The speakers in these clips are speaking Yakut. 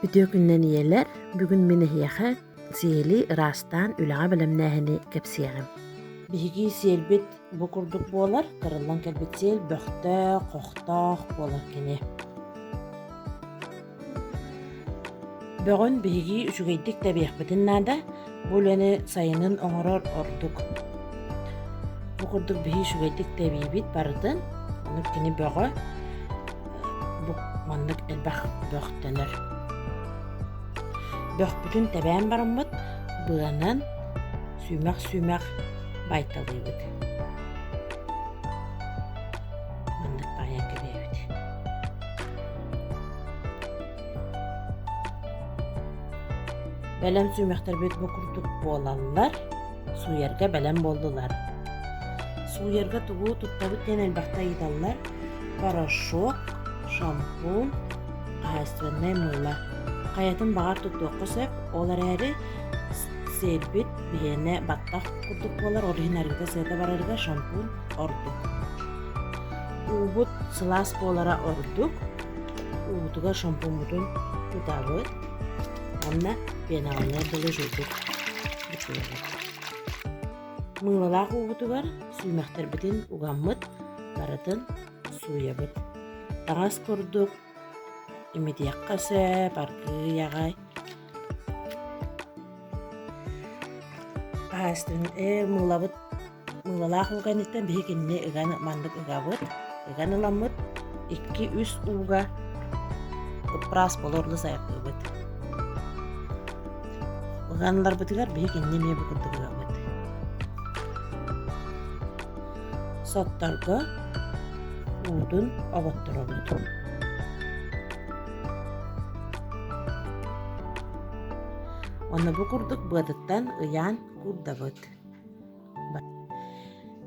Үтүө күннэн ийэлэр! Бүгүн мин эһиэхэ сиэли ыраастаан үлэҕэ бэлэмнээһини кэпсиэҕим. Биһиги сиэлбит бу курдук буолар, тарыллан кэлбит сиэл бөхтөөх, хохтоох буолар кини. Бөҕүн биһиги үчүгэйдик тэбиэхпитин наада, Бу үлэни сайынын оҥорор ордук. Бу курдук биһи үчүгэйдик тэбиибит барытын. Ону кини бөҕө бу маннык элбэх бөхтөнөр. Бөхпүтүн тэбээн бараммыт быанан сүүмэх-сүүмэх байталыыбыт. Маннык баайан кэбиэбит. Бэлэм сүүмэхтэрбит бу курдук буолаллар, сууйарга бэлэм буоллулар. Сууйарга тугу туттабыт диэн элбэхтэ ыйыталлар. Порошок, шампунь, хозяйственное мыло. Хайатын баҕар туттуохха сөп, ол эрээри сиэрбит биһиэнэ баттах курдук буолар, ол иһин арыгыга сыата барарга шампунь ордук. Уубут сылаас буолара ордук. уутугар шампуҥмутун ытаабыт уонна пенаҕаны доложуйбут бутуйабыт мыылалаах уубутугар сүүмэхтэрбитин угаммыт барытын сууйабыт таҥас курдук имитиэххэ сөп аргыый аҕай паастын ээ мыылабыт Мыылалаах ууга инниттэн биһи кинини ыган маннык ыгабыт, ыган ыламмыт, икки-үс ууга ыппраас болорула сайаттыыбыт. Ыганыларбытыгар биһи кинини эмиэ бу курдук ыгабыт. Сотторго уутун оботторобут. Онно бу курдук быатыттан ыйаан курдабыт.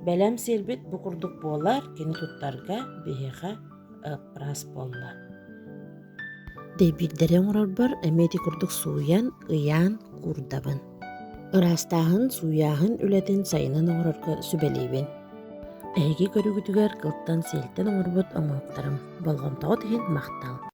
Бэлэм сирбит бу курдук буолар кини туттарга биһиэхэ ыппраас буолла дэйбиирдэри оҥорорбор эмиэ ити курдук сууйан ыйаан куурдабын ыраастааһын сууйааһын үлэтин сайынын оҥорорго сүбэлиибин эһиги көрүгүтүгэр кылтан сиэлтэн оҥорбут оҥоһуктарым болҕомтоҕут иһин махтал